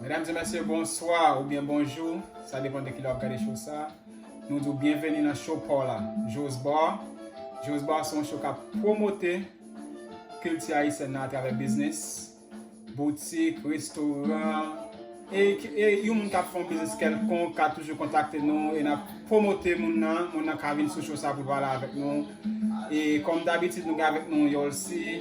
Medam e mesye bonswa ou byen bonjou Sa depan de ki lè wap gade show sa Nou di w byenveni nan show paw la Jo's Bar Jo's Bar se yon show kap pwomote kilti ayisyèn nan atravè biznis boutik, restoran e yon moun kap fon biznis kelkonk ka toujou kontakte nou e nap pwomote moun nan moun nan ka vin sou show sa pou l pale avèk nou e kòm dabitid nou gen avèk nou Yolcy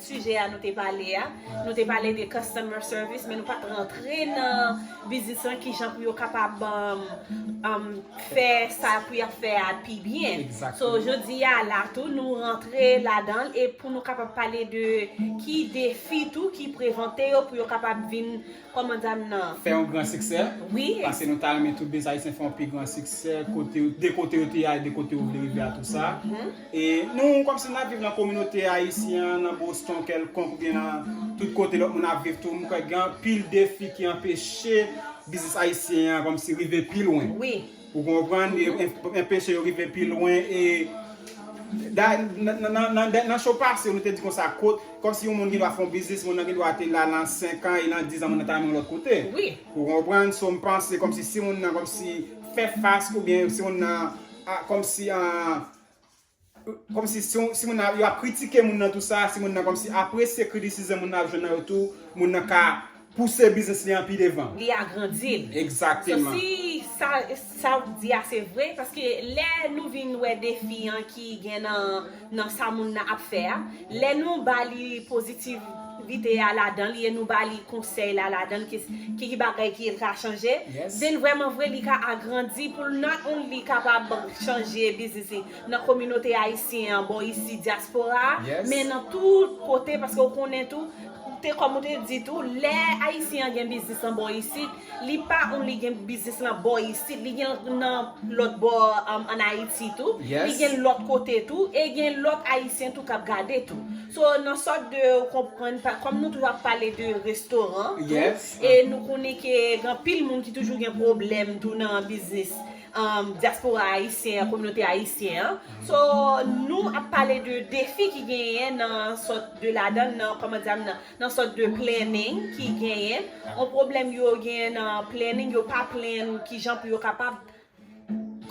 Sijè a nou te pale a, nou te pale de customer service men nou pat rantre nan biznis lan kijan pou yo kapab fè sa pou yap fè a pi byen. So jodi a la tou nou rantre ladanl e pou nou kapab pale de ki defi tou ki prevante yo pou yo kapab vin Koman dam nan. Fè yon gran siksè. Wi. Pase nou ta renmen tout des ayisyen fè yon pi gran siksè kote yo de kote yo te ya e de kote yo vle rive a tou sa. E nou kòm si nou ap viv nan kominote ayisyen an nan Boston kèlkonk ou byen nan tout kote lòt moun ap viv tou m kwè gen anpil defi ki anpeche biznis ayisyen an kòm si rive pi lwen. Wi. Ou konprann enpeche yo rive pi lwen e nan show pase nou te di konsa kot kòmsi yon moun gen dwa fè yon biznis moun nan gen dwa te la nan 5 an e nan 10 an moun nan ta nan yon lòt kote ou konprann so m panse kòmsi si moun nan kòmsi fè fas oubyen si moun nan kòmsi an Komsi si moun nan yo ap kritike moun nan tou sa, si moun nan komsi apresye kritisizm moun nan ap jwenn nan yo tou, moun nan ka pouse biznis li an pi devan. Li agrandi l. Exactement. So si sa w di a se vre, paske lè nou vin wè defi an ki gen nan sa moun nan ap fè a, Lè nou ba li pozitivite a ladan li e nou ba li konsèy la ladan ki ki bagay ki el ka chanje, si l vrèman vre li ka agrandi pou l not only kapab chanje biznis li nan kominote ayisyen an bò isi dyaspora a men nan tout kote paske ou konnen tou kòm ou te di tou lè ayisyen an gen biznis an bò isit Li pa on li gen biznis lan bò isit, li gen nan lòt bò an Ayiti tou, li gen lòt kote tou, e gen lòt Ayisyen tou k ap gade tou. So, nan sòt de ou konprann, kòm nou toujou ap pale de restoran tou, e nou konnen ke gen anpil moun ki toujou gen pwoblèm tou nan biznis dyaspora Ayisyen an, kominote Ayisyen an. So, nou ap pale de defi ki genyen nan sòt de ladan nan, kòman dirè m nan? nan sòt de planning ki genyen, yon pwoblèm yo genyen nan planning, yo pa plan kijan pou yo kapab.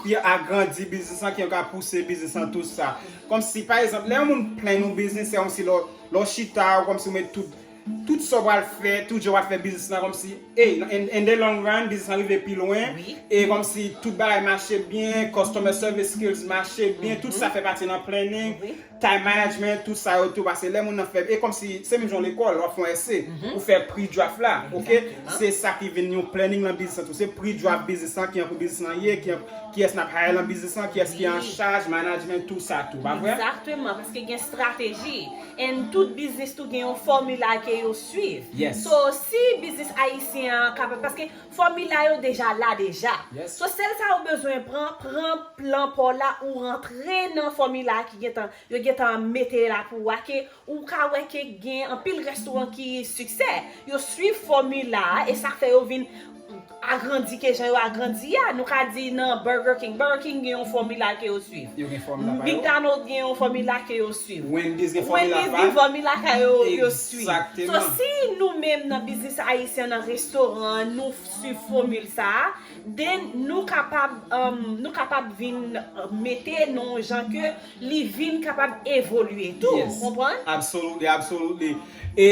Ki agrandi biznis lan, ki yo ka pouse biznis lan tout sa. Kòmsi pa egzanp, lè yon moun plan yon biznis, se kòmsi lè w chita, ou kòmsi ou met tout, tout sa w pral fè, tout jan w pral fè biznis lan kòmsi, e in the long run, biznis lan rive pi lwen, e kòmsi tout bagay mache byen, customer service skills mache byen, tout sa fè pati nan planning. Time management, tout sa yo tou, pase lè moun nan fè, e kòmsi, se menm jan lekòl, wap fè yon ese, ou fè pre-draft la, ok, se sa ki vin yon planning lan biznis lan tou, se pre-draft biznis lan, kijan pou biznis lan ye, kiyès nap hire lan biznis lan, kiyès ki an chaj, management, tou sa tou, pa vre? Exactement, paske gen strateji, and tout biznis tou gen yon formula ke yo swiv, so si biznis ayisyen an kapab, paske. Fòmila yo deja la deja. So sèl sa ou bezwen pran, pran plan paw la ou rantre nan fòmila ki gentan yo gentan mete la pou ou a ke ou ka wè ke gen anpil rèstoran ki siksè yo swiv fòmila a e sa fè yo vin agrandi ke jan yo agrandi a nou ka di nan Burger King, Burger King gen yon fòmila ke yo swiv McDonald gen yon fòmila ke yo swiv Wendy's gen fòmila pa yo. So si nou menm nan biznis ayisyen nan restoran an nou swiv fomil sa a, then nou kapab nou kapab vin mete nou jan ke li vin kapab evolye tou. Ou konprann? Yes. Absolutely, absolutely. E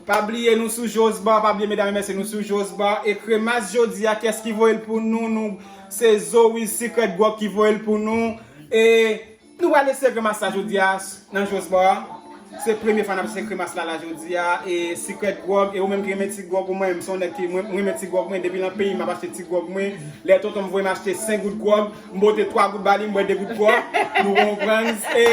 pa bliye nou sou Joe's Bar, pa bliye medam e mesye nou sou Joe's Bar e kremas jodi a kès ki voye l pou nou nou se Zoe's Secret Gwòg ki voye l pou nou e Nou pral eseye kremas la jodia nan Jo's bar Se premye fwa nap eseye kremas la la jodia e Secret Grog e ou menm ki renmen ti grog ou mwen menm son nèg ki mwen renmen ti grog mwen depi nan peyi map achte ti grog mwen lè tontonm voyem achte 5 gout grog m bote 3 gout bali m bwè 2 gout grog nou konprann e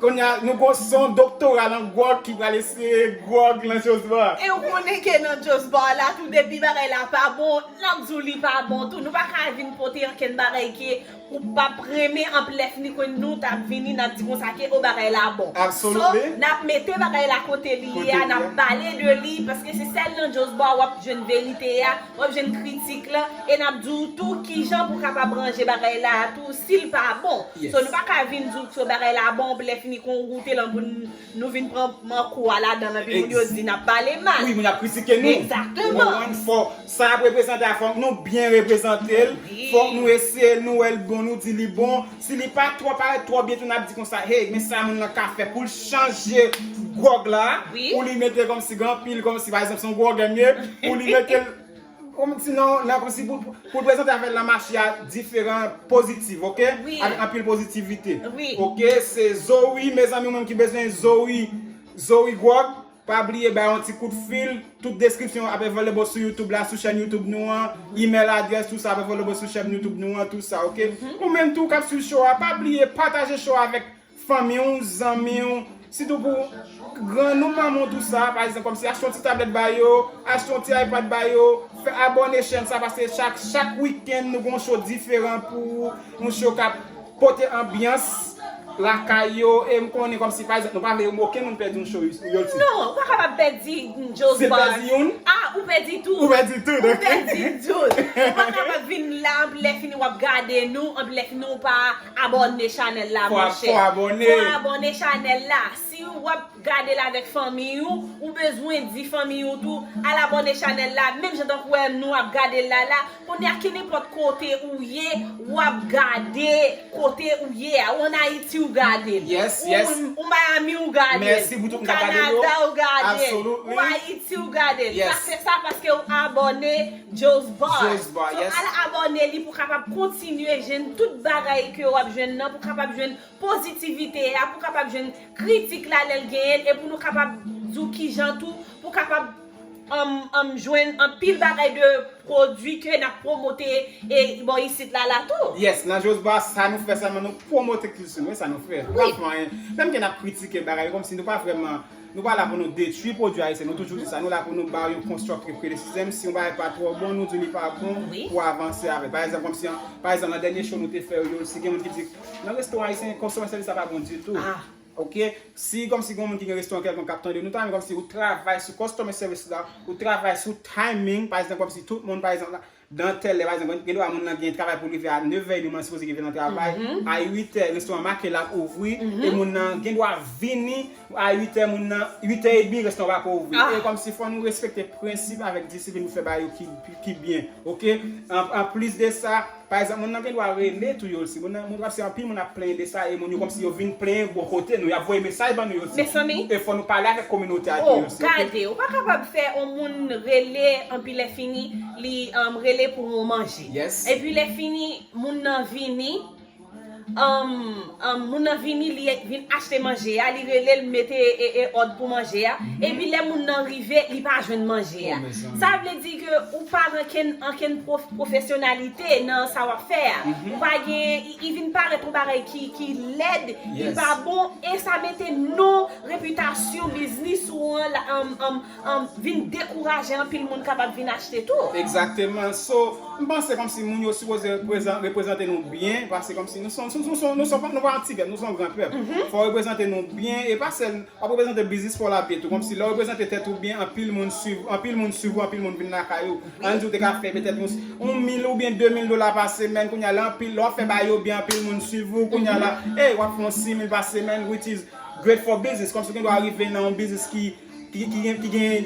Konya nou gon son doktora nan grog ki pral eseye grog nan Jo's bar. E ou konnen ke nan Jo's bar la tou depi bagay la pa bon nap di w li pa bon tou nou paka vin pote ankenn bagay ke Ou pap renmen anpl lè fini kwen nou tap vini nap di konsa ke oh bagay la bon. So nap mete bagay la kote li ye a nap pale de li paske se sèl nan Josba wap jwenn verite a, wap jwenn kritik lan e nap di ou tou kijan pou kapab ranje bagay la a tou sil pa bon. So nou paka vin di ou ke bagay la bon anpl lè fini kon ou goute lan pou n Nou vin pran man kou a ladanl epi moun yo di nap pale mal. Wi moun ap kritike nou. Exactement. Ou konprann fò sa ap reprezante a fòk nou byen reprezantel, fòk nou eseyel nou wèl bon nou di li bon, si li pa twò parèt twò byen tou nap di konsa hey men sa moun lan ka fè poul chanje gwòg la pou li metel kòmsi gen anpil kòmsi pa egzanp son gwògè m ye pou li metel Kom ti non nan kom si pou pou prezante avèl nan mache a diferan pozitiv ok avèk anpil pozitivite ok se zo wi mezanmi ou menm ki bezwen zo wi zo wi gwòg pa bliye bay yon ti kout fil tout deskripsyon ap evolebo sou youtube la sou chèn youtube nou an imèl adrès tout sa ap evolebo sou chèn youtube nou an tout sa ok ou menm tou kap swiv cho a pa bliye pataje cho a avèk fanmi w, zanmi w, sitou pou grann ou, manman w tout sa, pa egzanp kòmsi achte yon ti tablèt ba yo, achte yon ti ipad ba yo, fè abòne chèn sa paske chak wikenn nou gen yon show diferan pou ou, yon show kap pote anbyans lakay yo e m konnen kòmsi pa egzanp nou pa vle okenn moun pèdi yon show yo l ti. Non, ou pa kapab pèdi yon Joe's Bar. Si l pèdi youn. A, ou pèdi tout. Ou pèdi tout. Ou pèdi tout. Ou pa kapab vin la anpi lè fini wap gade nou anpi lè fini ou pa. Abòne chanèl la monchè. Fò abòne chanèl la. Si w ap gade l avèk fanmiy ou, ou bezwen di fanmiy ou tou al abòne chanèl la menm jan tankou wè nou ap gade l la la. Kounye a kenenpòt kote ou ye w ap gade kote ou ye a. Ou an Ayiti ou gade l. Ou Miami ou gade l. Ou Kanada ou gade l. Ou Ayiti ou gade l. Ou ap fè sa paske ou abòne. Josvar so al abòne li pou kapab kontinye jwenn tout bagay ke wap jwenn nan pou kapab jwenn pozitivite a pou kapab jwenn kritik la lèl genyenl e pou nou kapab di w kijan tou pou kapab humm jwenn anpil bagay de pwodwi ke nap pwomote e bò isit la la tou. Yes nan Josvar sa nou fè sèlman nou pwomote kilti nou e sa nou fè nou pa fè anyen menm ke nap kritike bagay yo kòmsi nou pa vrèman. Nou pa la pou nou detwi pwodwi ayisyen, nou toujou di sa, nou la pou nou ba yo constructive criticism, si yon bagay pa twò bon nou di li pa bon pou avanse avèl. Pa egzanp kòmsi an, pa egzanp nan dènye show nou te fè yo, si gen moun ki di nan restoran ayisyen customer service la pa bon ditou, ok, si kòmsi gon moun ki gen restoran kèlkonk kap tande nou ta renmen kòmsi ou travay sou customer service la, ou travay sou timing, pa egzanp kòmsi tout moun pa egzanp la. Dan tèl lè pa egzanp gen dwa moun lan gen travay poul rive a 9 è edeman sipoze rive nan travay a 8 è restoran make lap ouvri e moun lan gen dwa vini a 8 è moun lan 8 è edmi restoran pako ouvri e kòmsi fò nou respekte prensip avèk disiplin nou fè ba yo ki byen ok anplis de sa pa egzanp moun lan gen dwa rele tou yo si moun lan moun paske anpil moun ap plenyen de sa e moun yo kòmsi yo vin plenyen bò kote nou yap voye mesaj ban nou yo tou e fò nou pale avèk kominote a tou yo si ok. Gade ou pa kapab fè on moun rele anpi lè fini. Li rele pou ou manje. Epi lè fini moun nan vini moun nan vini li vin achte manje a, li rele l mete òd pou manje a. Epi lè moun nan rive li pa jwenn manje a. Sa vle di ke ou pa gen ankenn pwofesyonalite nan sa w ap fè a. Ou pa gen, li vin parèt yon bagay ki lèd, ki pa bon e sa mete non repitasyon biznis ou an. vin dekouraje anpil moun kapab vin achte tou. Egzakteman so m panse kòmsi moun yo sipoze reprezante nou byen pase kòmsi nou son nou son nou son nou pa yon ti pèp nou son gran pèp fò w reprezante nou byen e pa sèl wap reprezante biznis paw la byen tou kòmsi lè w reprezante tèt ou byen anpil moun swiv anpil moun swiv ou anpil moun vin lakay ou an di w te ka fè petèt yon yon mil oubyen de mil dola pa semèn kounye a lè anpil lè wap fè bagay yo byen anpil moun swiv ou kounye a la e wap fè yon simil pa semèn which is great for business kòmsi w gen dwa rive nan yon biznis ki ki gen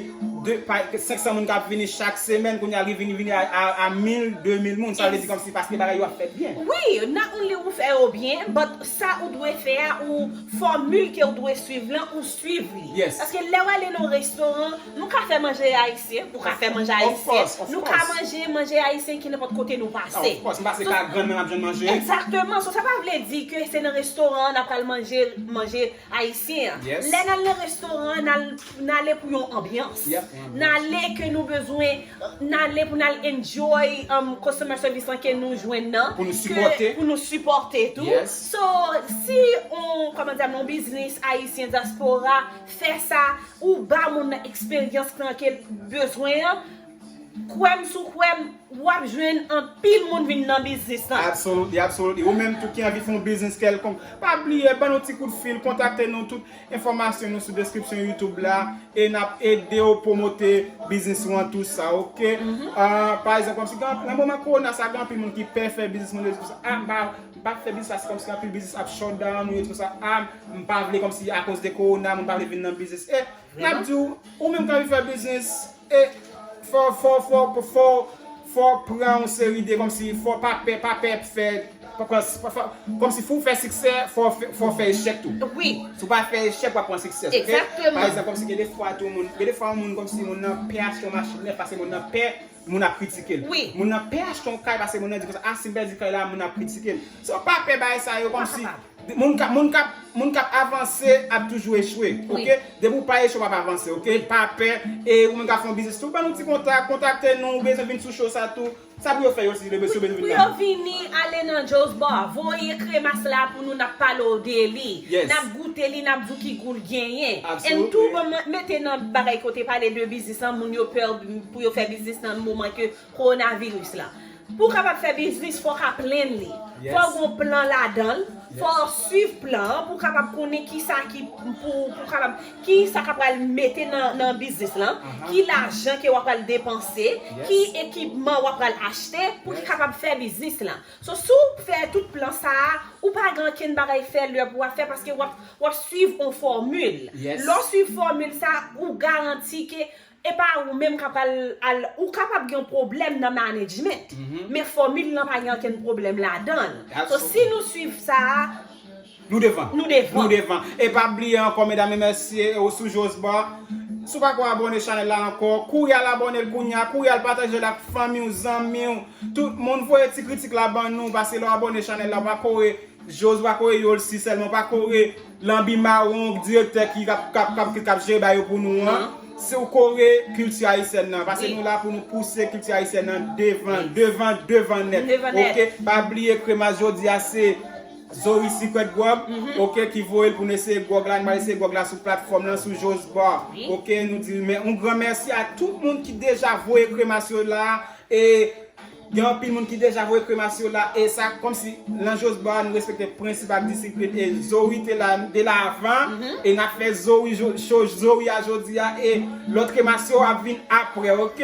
500 moun k ap vini chak semèn, kounye a li vin vini a 1000, 2000 moun, sa vle di kòmsi paske bagay yo ap fèt byen. Wi, not only ou fè yo byen, but sa ou dwe fè a, ou fòmil ke ou dwe swiv lan, ou swiv li. Paske lè w ale nan yon restoran, nou ka fè manje ayisyen, ou ka fè manje ayisyen, nou ka manje manje ayisyen ki nenpòt kote nou pase. Of course, m pase kay grann mwen m ap jwenn manje. Exactement, so sa pa vle di ke se nan restoran an n ap pral manje manje. Ayisyen an. Lè nal nan restoran nale pou yon anbyans. Nale ke nou bezwen, nale pou nal enjoy customer service lan ke nou jwenn nan. Pou nou sipòte. Pou nou sipòte tou. So, si yon, kòman dam, yon biznis ayisyen dyaspora fè sa, ou ba moun nan eksperyans lan kel bezwen an. Kwèm sou kwèm wap jwenn anpil moun vin nan biznis lan. Absolutely absolutely ou menm tou ki anvi fè yon biznis kèlkonk pa bliye ban nou ti kout fil kontakte nou tout enfòmasyon nou sou deskripsyon youtube la e nap ede ou pwomote biznis ou an tou sa ok pa egzanp kòmsi nan moman korona sa gen anpil moun ki pè fè biznis moun yo di konsa ah m pa fè biznis la se kòmsi anpil biznis ap shutdown ou yo di konsa ah m pa vle kòmsi akoz de korona moun pa vle vin nan biznis e Map di w, ou menm kap vin fè biznis e fò fò fò fò fò pran yon seri de kòmsi fò pa pè pa pè fè pa pran pa fè kòmsi pou w fè siksè fò fò fè echèk tou. Wi. Si w pa fè echèk wap pran siksè ok. Egzakteman. Pa egzanp kòmsi gen de fwa tou moun gen de fwa yon moun kòmsi moun nan pè achte yon machin nèf paske moun nan pè moun ap kritike l. Moun nan pè achte yon kay paske moun nan di konsa, ah si m pèdi kay la moun ap kritike m. So pa pè bagay sa yo kòmsi moun k ap avanse ap toujou echwe ok. Depi ou pa echwe w ap avanse ok. Pa pè e ou menm k ap fè yon biznis tou ban nou ti kontak, kontakte nou ou bezwen vin sou show sa tou. Sa pou yo fè yo si yo bezwen vin nan. Pou yo vini ale nan Joe's Bar. Voye kremas la pou nou n ap pale w de li. N ap goute li n ap di w ki gou l genyen. And tou banm mete nan bagay kote pale de biznis lan moun yo pè Pou yo fè biznis nan moman ke Corona virus la. Pou w kapab fè biznis fò w ka plenn li. Fò w gen yon plan ladan l. Fò w swiv plan an pou w kapab konnen ki sa ki pou ou kapab, ki sa ka pral mete nan biznis lan, ki lajan ke wap pral depanse, ki ekipman wap pral achte pou ki kapab fè biznis lan. So si w fè tout plan sa a, ou pa gen ankenn bagay fè lè pou wap fè paske wap swiv yon fòmil. Lè w swiv fòmil sa a, ou garanti ke Epa ou menm kap al al ou kapab gen yon pwoblèm nan management men fòmil lan pa gen ankenn pwoblèm ladanl so si nou swiv sa a nou devan nou devan e pa bliye ankò medam e mesye ou sou josba si w pako abòne chanèl la ankò kouri al abònel kounya kouri al patajel ak fanmiw zanmiw tout moun voye ti kritik la ban nou paske lè w abòne chanèl la ou pa kore josba kore yolsi sèlman ou pa kore Lanbi mawon direktè ki kap jere bagay yo pou nou an, si ou kore kilti ayisyèn nan, pase nou la pou nou pouse kilti ayisyèn nan devan, devan, devan nèt, ok, pa bliye kremas jodi a se Zoe Secret Grub, ok, ki voye l pou nou eseye gròg la, nou pral eseye gròg la sou platfòm lan, sou Joe's Bar, ok, nou di yon gran mèsi a tout moun ki deja voye kremas yo la, e. Gen anpil moun ki deja voye kremas yo la e sa kòmsi nan Josba a nou respekte prensip ak disiplin e Zoe te la nou te la avan e nap fè Zoe show Zoe a jodi a e lòt kremas yo ap vin aprè ok.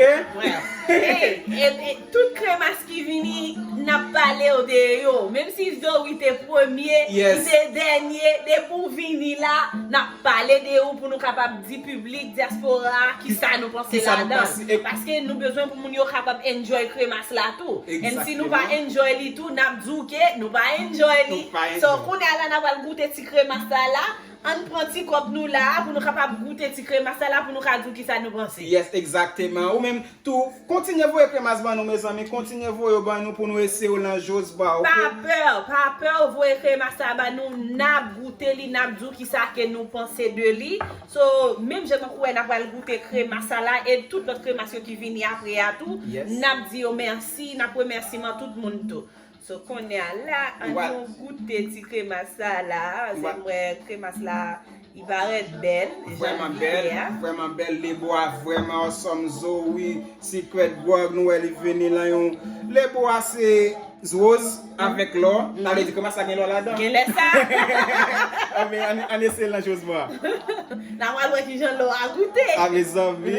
E tout kremas ki vini nap palew de yo menm si Zoe te premye li te dènye depi ou vini la nap Pale de ou pou nou kapab di piblik dyaspora a kisa nou panse ladan l. Paske nou bezwen pou moun yo kapab enjoy kremas la tou. And si nou pa enjoy li tou nap di w ke nou pa enjoy li. So kounye a la na pral goute ti kremas la la. Ann pran ti kòp nou la a pou nou kapab goute ti kremas la la pou nou ka di w kisa nou panse. Yes exactement. Ou menm Tou Kontinye voye kremas ban nou mezanmi kontinye voye yo ban nou pou nou eseye yo lan Jo's bar ok. Pa pè, pa pè ou voye kremas la ba nou nap goute li nap di w kisa ke nou panse de li so menm jan tankou wè nap pral goute kremas sa la e tout lòt kremas yo ki vini apre a tou nap di yo mèsi nap remèsiman tout moun tou. So kounye a la an nou goute ti kremas la la se mwen kremas la li parèt bèl vreman bèl vreman bèl le bo a vreman osòm zo wi sikrèt gwòg nou wè li vini lan yon le bo a se roz avèk lò ta vle di kremas la gen lò ladan gen lè sa an eseye lan jozman nan wè lò ki jan lò a goute a mezanmi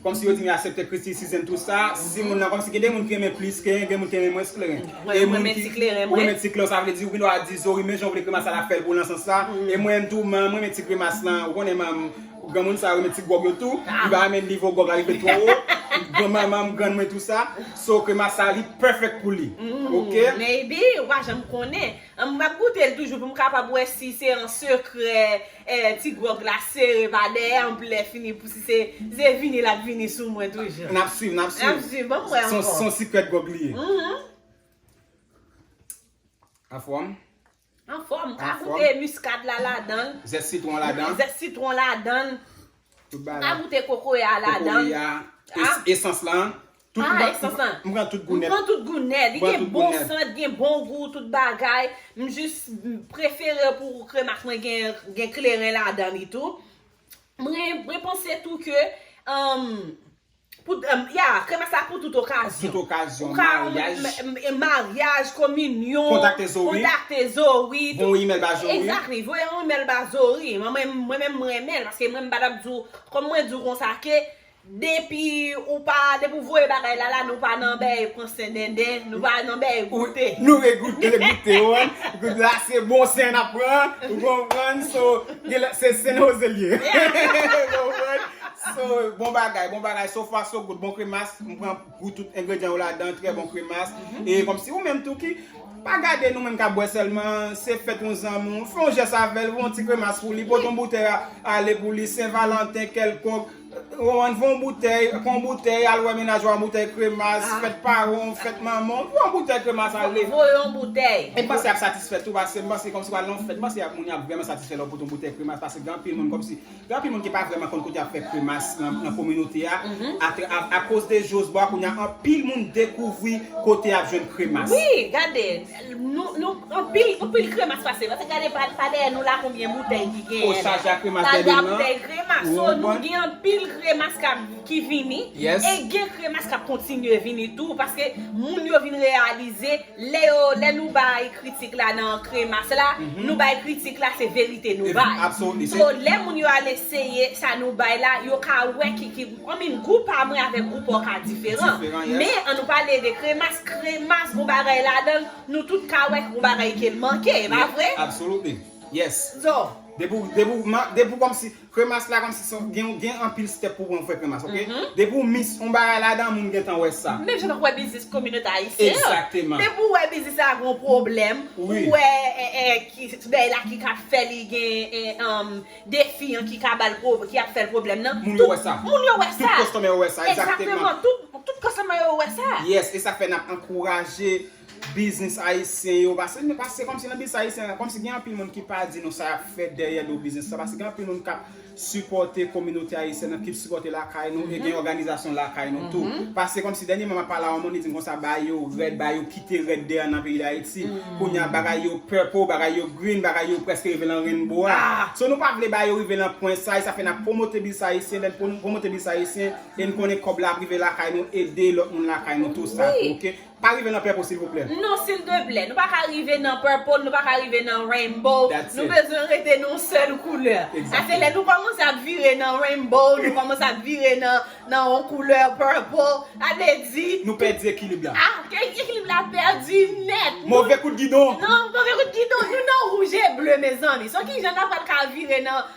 Kòmsi yo di mi asèpte kritisizem tout sa si moun nan kòmsi gen de moun ki renmen plis kleren gen moun ki renmen mwens kleren e moun ki ou renmen ti kleren sa vle di ou gen dwa di zori men jan ou vle kremas sa la fèl pou ou nan sans sa e mwen menm tou man mwen renmen ti kremas lan ou konnen man granmoun sa yo renmen ti gwòg yo tou li pa renmen nivo gwòg la rive twò wo gran manmanm grann mwen tou sa so kremas sa li perfect pou li ok. Maybe ou pa janm konnen mwen ap goutel toujou pou m kapab wè si se an sekrè. Eh ti grog la sere pa dèyè anpl lè fini pou si se se vini lap vini sou mwen toujou. Nap swiv nap swiv. Nap swiv banm wè ankò. Son secret grog li ye. Uhmm. Anfòm. Anfòm, ka goute muscade la ladanl. Zès citron ladan. Zès citron ladan. Mpa goute kokoye a la dan. Kokoye a esans lan. Ah esans lan. Mpran tout goune. Mpran tout goune. Li gen bon sant gen bon gou tout bagay. Mjis prefere pou kremas mwen gen kleren la dan li tou. Mwen panse tou ke. Pou ya, kremas la pou tout okazyon. Tout okazyon, Ou ka maryaj. m maryaj, kominyon. Kontakte Zoe. Kontakte Zoe. Voye yon email ba Zoe. Exactly, voye yon email ba Zoe. Mwen menm m renmen l paske mwen m pa tap di w kòm mwen di w konsa ke depi ou pa depi ou voye bagay la la nou pa nan bèy pran sen denden, nou pa nan bèy goute. Nou vle goute, goute ou wè. Goute la se bon sen n ap pran, ou konprann? So, gen lè se San Jose l ye. Ou konprann? So bon bagay bon bagay so far so good bon kremas m pran gou tout engredyan yo ladan trè bon kremas e kòmsi ou menm tou ki pa gade nou menm kap bwè sèlman se fèt yon zanmi w fè yon jès avèl voye yon ti kremas pou li pote yon boutèy ale pou li sen valanten kèlkonk ou ann voye yon boutèy pran yon boutèy al wè mennaj ou a yon boutèy kremas fèt paran w fèt manman w voye yon boutèy kremas ale voye yon boutèy e m panse yap satisfè tou pase m panse kòmsi wale nan yon fèt m panse moun yap vrèman satisfè lè w pote yon boutèy kremas pase gen anpil moun kòmsi. Gen anpil moun ki pa vrèman konn kote yap fè kremas nan kominote a, a koz de Josbo a kounya anpil moun dekouvri kote yap jwenn kremas. Wi gade nou anpil kremas pase pase gade pa dèyè nou la konbyen boutèy ki genyen la. Osage a kremas dèyè nou la. So nou gen anpil kremas kap ki vini e gen kremas kap kontinye vini tou paske moun yo vin reyalize. Lè yo, lè nou bay kritik la nan kremas la, nou bay kritik la se verite nou bay. So lè moun yo al eseye sa nou bay la, yo ka wè ki ki gou. I mean gou pa mwen avèk gou pa w ka diferan. Men an nou pale de kremas, kremas gon bagay ladan l, nou tout ka wè gon bagay ke l manke, e pa vre? Absolutely. Yes. So. Depi w, depi w, depi w kòmsi. Kremas la kòmsi son gen gen anpil step pou pran fè kremas ok depi ou mix on bagay ladan moun gentan wè sa. Menm jan nou wè biznis kominote ayisyen an. Exactement. Depi ou wè biznis la gon pwoblèm, ou wè bèy la ki ka fè li gen defi an ki ka bal ki ap fèl pwoblèm nan. Moun yo wè sa. Moun yo wè sa. Tout kòstòmè yo wè sa exactement. Exactement tout kòstòmè yo wè sa. Yes esak fè nap ankouraje Biznis ayisyen yo, paske se kòmsi nan biznis ayisyen la, kòmsi gen anpil moun ki pa di nou sa y ap fè dèyè do biznis sa, paske gen anpil moun k ap sipòte kominote ayisyèn nan, ki sipòte lakay nou, e gen òganizasyon lakay nou tou. Paske kòmsi dènyeman m ap pale a yon moun, li di m konsa, ba yo rèd, ba yo kite rèd deyò nan peyi Dayiti. Kounye a bagay yo purple, bagay yo green, bagay yo prèske rive lan rainbow a. So nou pa vle ba yo rive lan pwen sa, e sa fè n ap pwomote biznis ayisyen, lè n pwomote biznis ayisyen, e n konnen kòb la ap rive lakay nou, ede lòt moun lakay nou tou sa tou, ok. Pa rive nan purple silvouplè. Non sildeplè nou paka rive nan purple nou paka rive nan rainbow nou bezwen rete nan yon sèl koulè sa se lè nou kòmanse ap vire nan rainbow nou kòmanse ap vire nan yon koulè purple sa vle di nou pèdi ekilib la ekilib la pèdi nèt move kout gidon nou nan wouj e ble mezanmi so kijan nou pral ka vire nan.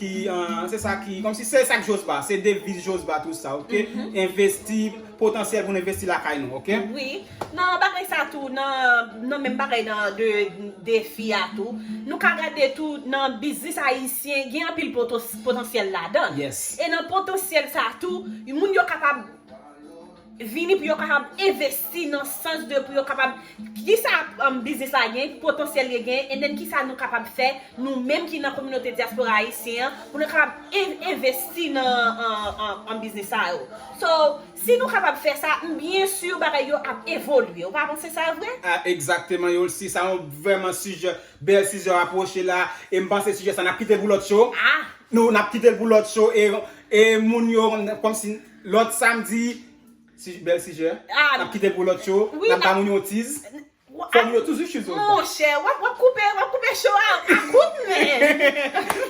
Ki se sa ki kom si se sa ki josba se deviz josba tout sa ok envesti potansyèl pou nou envesti lakay nou ok. Wi nan bagay sa tou nan menm bagay nan de defi a tou nou ka gade tou nan biznis ayisyen gen anpil potansyèl ladan e nan potansyèl sa tou moun yo kapab Vini pou yo kapab envesti nan sans de pou yo kapab kisa biznis la gen, potansyèl li gen, and then kisa nou kapab fè nou menm ki nan kominote dyaspora ayisyen an pou nou kapab envesti nan biznis sa yo. So, si nou kapab fè sa, m byen sur bagay yo ap evolye. Ou pa panse sa vre? Egzakteman Yolcy, sa yon vrèman sijè, bèl sijè w apwoche la, e m panse sijè sa n ap kite l pou lòt cho, nou n ap kite l pou lòt cho e moun yo kòmsi. Lòt samdi, si bèl sijè, nap kite l pou lòt yo, nap ba moun yon tiz. Fòm yo toujou chou zone sa. Monchè, wap wap koupe, wap koupe show a a kout men.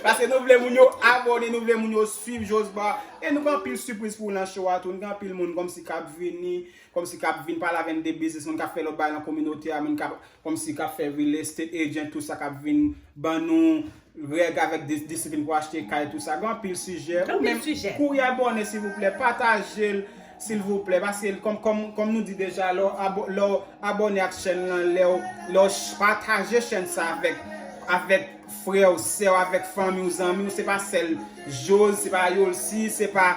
Paske nou vle moun yo abone, nou vle moun yo swiv Josba. E nou gen anpil sipriz pou nan show a tou. Nou gen anpil moun kòm si kap vini, kòm si kap vin pale avè n de biznis, moun kap fè lòt bagay nan kominote a, moun kap kòm si kap fè real estate agent tout sa kap vin ban nou. Règ avèk disiplin pou achte kay tou sa gen anpil sijè ou menm kouri abòne silvouplè patajel silvouplè paske kòm nou di deja lè w abòne ak chèn lan lè w pataje chèn sa avèk frè w sè w avèk fanmi w zanmi w se pa sèl jose se pa yolsi se pa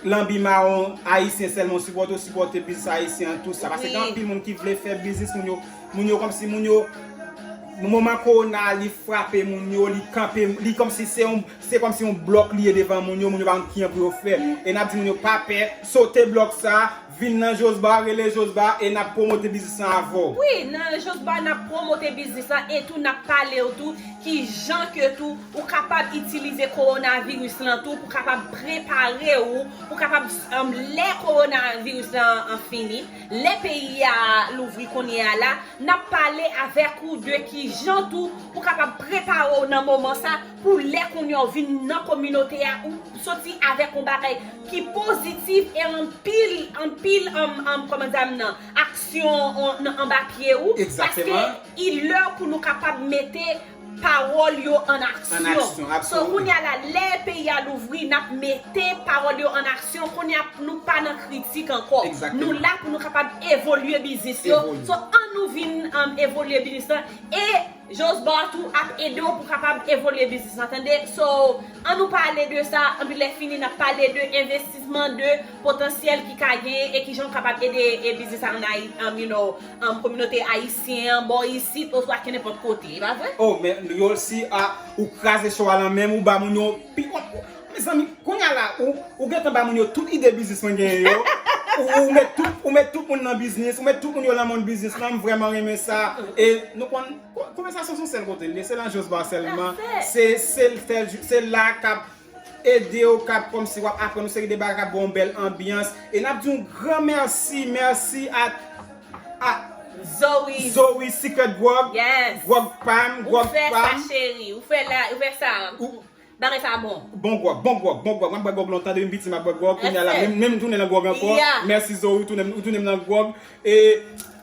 Lanbi mawon ayisyen sèlman sipòte ou sipòte biznis ayisyen an tou sa paske gen anpil moun ki vle fè biznis moun yo moun yo kòmsi moun yo moman kowona a li frape moun yo li kanpe li kòmsi se yon se kòmsi yon blòk li ye devan moun yo moun yo pa konn kijan pou yo fè e n ap di moun yo pa pè sote blòk sa Vin nan Josba, rele Josba e nap promote biznis lan avè w. Wi, nan Josba nap promote biznis lan e tou nap pale w tou ki jan ke tou ou kapab itilize kowonaviris lan tou pou kapab prepare ou pou kapab lè kowonaviris lan fini, lè peyi a louvri kounye a la, nap pale avèk ou de ki jan tou pou kapab prepare w nan moman sa. Pou lè kounye a ou vin nan kominote a ou soti avèk yon bagay ki pozitif e anpil, anpil kòman dam nan aksyon anba pye ou paske i lè pou nou kapab mete pawòl yo an aksyon so kounye a la lè peyi a louvri n ap mete pawòl yo an aksyon kounye a nou pa nan kritik ankò nou la pou nou kapab evolye biznis yo so an nou vin evolye biznis lan e. Josbar tou ap ede w pou kapab evolye biznis la tande so an nou pale de sa anpi lè fini nap pale de envestisman de potansyèl ki ka genyen e kijan ou kapab ede e biznis sa an you know an kominote ayisyen an bò isit oswa kenenpòt kote e pa vre. Oh men Yolcy ah ou kraze show a lan menm ou ba moun yon pi bon Mezanmi kounya la ou gentan ba moun yo tout ide biznis mwen genyen yo ou met tout moun nan biznis ou met tout moun yo nan moun biznis lan m vreman renmen sa e nou konn konvèsasyon son sèl kote liye se nan Jos Bar sèlman se la kap ede ou kap kòmsi wap aprann yon seri de bagay kap ba w bèl anbyans e nap di yon gran mèsi mèsi a a Zoe Secret Grog Grog Pam ou fè sa cheri ou fè sa Bagay sa bon. Bon grog bon grog bon grog map bwè grog lontan depi m piti map bwè grog kounya la menm m tounen nan grog ankò merci zo ou tounen m nan grog e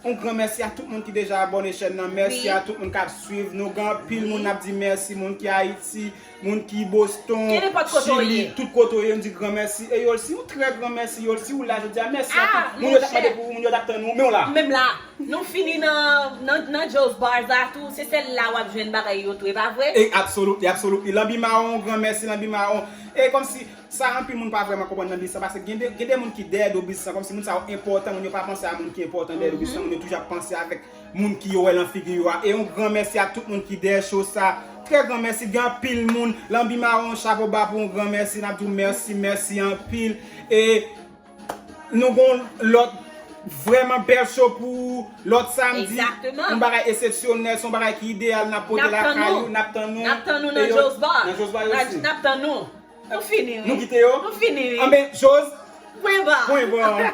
yon gran merci a tout moun ki deja abone chèn nan merci a tout moun kap swiv nou gen anpil moun nap di merci moun ki ayiti moun ki boston chili tout kote ou ye nou di gran merci e yolsi yon trè gran merci yolsi ou la jodia merci a tout moun yo tap mande pou ou moun yo tap tann ou menw la. Nou fini nan nan Joe's bars la tou se sèl la wap jwenn bagay yo tou e pa vre? E absolutely absolutely lanbi mawon yon gran mèsi lanbi mawon e kòmsi sa anpil moun pa vrèman konprann nan biznis lan paske gen de gen de moun ki dèyè do biznis lan kòmsi moun sa yo enpòtan moun yo pa panse a moun ki enpòtan dèyè do biznis lan moun yo toujou ap panse avèk moun ki yo wè lan figi yo a e yon gran mèsi a tout moun ki dèyè show sa trè gran mèsi gen anpil moun lanbi mawon chapo ba pou yon gran mèsi nap di w mèsi mèsi anpil e. Nou gon lòt vrèman bèl show pou lòt samdi. Yon bagay esepsyonèl, son bagay ki ideyal nap pote lakay ou. Nap tann nou. Nap tann nou nan Jo's Bar. Nan Jo's Bar osi. Nap tann nou. Nou fini wi. Nou kite yo. Nou fini wi. Anben Jo's. Pwen ba. Pwen ba.